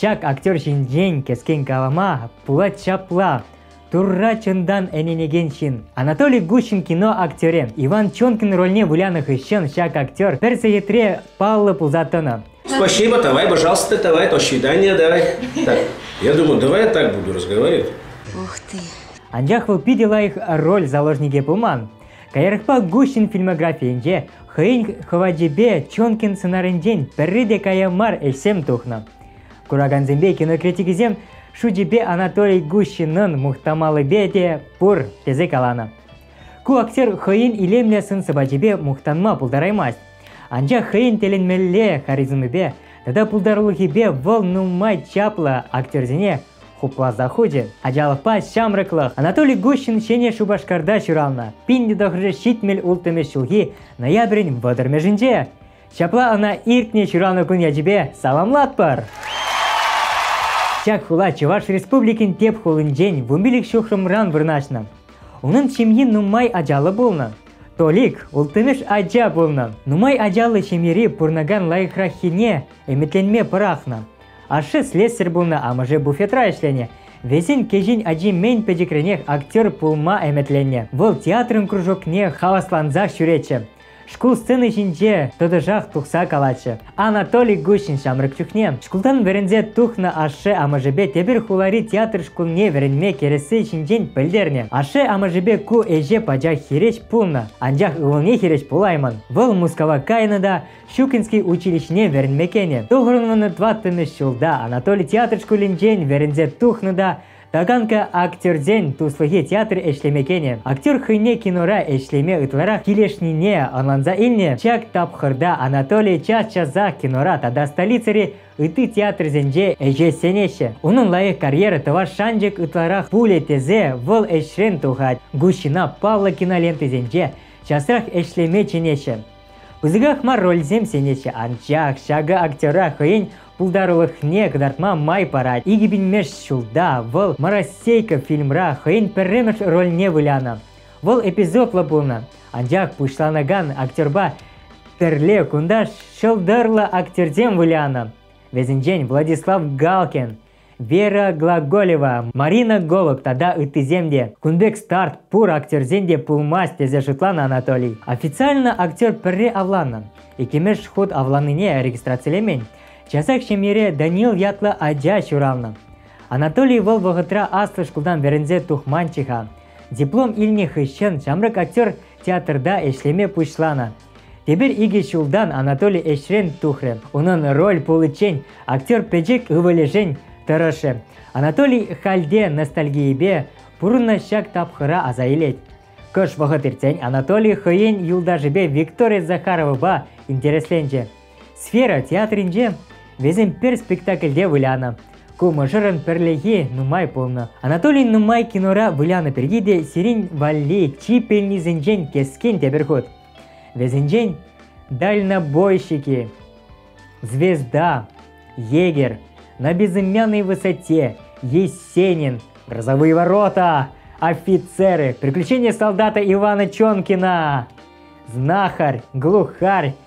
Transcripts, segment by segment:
Ҫак актер ҫинчен кӗскен калама пулать ҫапла. Турра чунтан ӗненекен ҫын. Анатолий Гущин кино актерӗ Иван Чонкин рольне вылянӑ хыҫҫӑн ҫак актер пӗр сехетре паллӑ пулса тӑнӑ. Спасибо, давай, пожалуйста, давай, до свидания, давай. Так, я думаю, давай так буду разговаривать. Ух ты. Анчах вӑл питӗ лайӑх роль заложникӗ пулман. Каярахпа Гусин фильмографийӗнче хӑйӗн хӑвачӗпе Чонкин сӑнарӗнчен пӗрре те кая мар ӗҫсем тухнӑ. Куракансемпе кинокритикӗсем шучӗпе Анатолий Гусинӑн мухтамаллипе те пур тесе каланӑ. Ку актер хӑйӗн илемлӗ сӑн-сӑпачӗпе мухтанма пултараймасть. Анчах хӑйӗн тӗлӗнмелле харизмипе тата пултарулӑхӗпе вӑл нумай чаплӑ актерсене хупласа хучӗ. Ачалӑхпа ҫамрӑклӑх Анатолий Гущин Ҫӗнӗ Шупашкарта ҫуралнӑ. Пин тӑхӑршӑ ҫитмӗл улттӑмӗш ҫулхи ноябрӗн вӑтӑрмӗшӗнче. Ҫапла ӑна иртнӗ ҫуралнӑ кун ячӗпе саламлатпӑр! Ҫак хула Чӑваш Республикин тӗп хулинчен вунпилӗк ҫухрӑмран вырнаҫнӑ. Унӑн ҫемйи нумай ачаллӑ пулнӑ. Толик улттӑмӗш ача пулнӑ. Нумай ачаллӑ ҫемьери пурӑнакан лайӑхраххине ӗмӗтленме пӑрахнӑ. Ашшӗ слесарь пулнӑ, амӑшӗ буфетра ӗҫленӗ. Вӗсен кӗҫӗн ачи мӗн пӗчӗкренех актер пулма ӗмӗтленнӗ. Вӑл театрӑн кружокне хаваслансах ҫӳретчӗ. Шкул сцени ҫинче тӑтӑшах тухса калатчӗ. Анатолий Гущин ҫамрӑк чухне шкултан вӗренсе тухнӑ ашшӗ амӑшӗпе тепӗр хулари театр шкулне вӗренме кӗресси ҫинчен пӗлтернӗ. Ашшӗ амӑшӗпе ку ӗҫе пачах хирӗҫ пулнӑ, анчах ывӑлне хирӗҫ пулаймӑн. Вӑл Мускава кайнӑ та Щукинский училищине вӗренме кӗнӗ. Тухрӑмӑн тӑваттӑмӗш ҫулта Анатолий театр шкулӗнчен вӗренсе тухнӑ та Таганка актерсен туслӑхи театр ӗҫлеме кӗнӗ. Актер хӑйне кинора ӗҫлеме ытларах килӗшнине ӑнланса илнӗ. Ҫак тапхӑрта Анатолий час-часах кинора тата столицӑри ытти театрсенче ӗҫе сӗнеҫҫӗ. Унӑн лайӑх карьера тӑвас шанчӑк ытларах пулӗ тесе вӑл ӗҫрен тухать. Гущина Павло кинолентисенче часрах ӗҫлеме чӗнеҫҫӗ. Пысӑках мар рольсем сӗнеҫҫӗ, анчах ҫакӑ актера хӑйӗн пултарулӑхне кӑтартма май парать. Икӗ пинмеш ҫулта вӑл «Моросейка» фильмра хӑйӗн пӗрремӗш рольне вылянӑ. Вӑл эпизодлӑ пулнӑ, анчах пуҫланакан актерпа тӗрле кунта ҫӑлтӑрлӑ актерсем вылянӑ. Вӗсенчен Владислав Галкин, Вера Глаголева, Марина Голок тата ыттисем те. Кун пек старт пур актерсен те пулмасть тесе шутланӑ Анатолий. Официально актер пӗрре авланнӑ. Иккӗмеш хут авланнине регистрацилемен. Часах ҫемьере Данил ятлӑ ача ҫуралнӑ. Анатолий вӑл вӑхӑтра аслӑ шкултан вӗренсе тухманччӗ-ха. Диплом илнӗ хыҫҫӑн ҫамрӑк актер театрта ӗҫлеме пуҫланӑ. Эпир икӗ ҫултан Анатолий ӗҫрен тухрӗ. Унӑн роль пуличчен актер пӗчӗк ывӑлӗшӗн тӑрӑшрӗ. Анатолий хальте ностальгийӗпе пурӑннӑ ҫак тапхӑра аса илет. Кӑш вӑхӑт иртсен Анатолий хӑйен юлташӗпе Виктория Захаровӑпа интересленчӗ. Сфера театрӗнче вӗсем пӗр спектакльте вылянӑ. Ку мӑшӑрӑн пӗрлехи нумай пулнӑ. Анатолий нумай кинора вылянӑ пирки те сирӗн валли чи пӗлнисенчен кескен тепӗр хут. Вӗсенчен дальнобойщики, звезда, егерь, на безымянной высоте, Есенин, грозовые ворота, офицеры, приключения солдата Ивана Чонкина, знахарь, глухарь,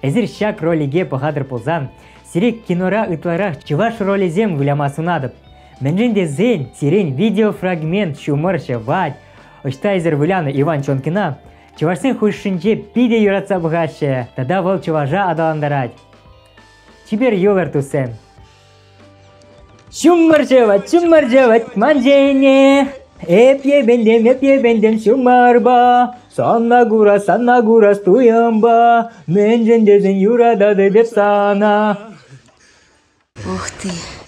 Эсир ҫак ролике пӑхатӑр пулсан, сире кинора ытларах чӑваш ролӗсем выляма сунатӑп. Мӗншӗн тесен сирен видеофрагмент ҫумӑр ҫӑвать. Ӑҫта эсир вылянӑ Иван Чонкина? Чӑвашсен хушшинче питӗ юратса пӑхаҫҫӗ, тата вӑл чӑваша аталантарать. Чипер йогурт туссем! Ҫумӑр ҫӑвать, ҫумӑр ҫӑвать ман ҫине. Эп йӗпентем, эп йӗпентем ҫумӑрпа. Санна курас, санна курас туйӑмпа. Мӗншӗн тесен юрататӑп эп сана. Ух ты.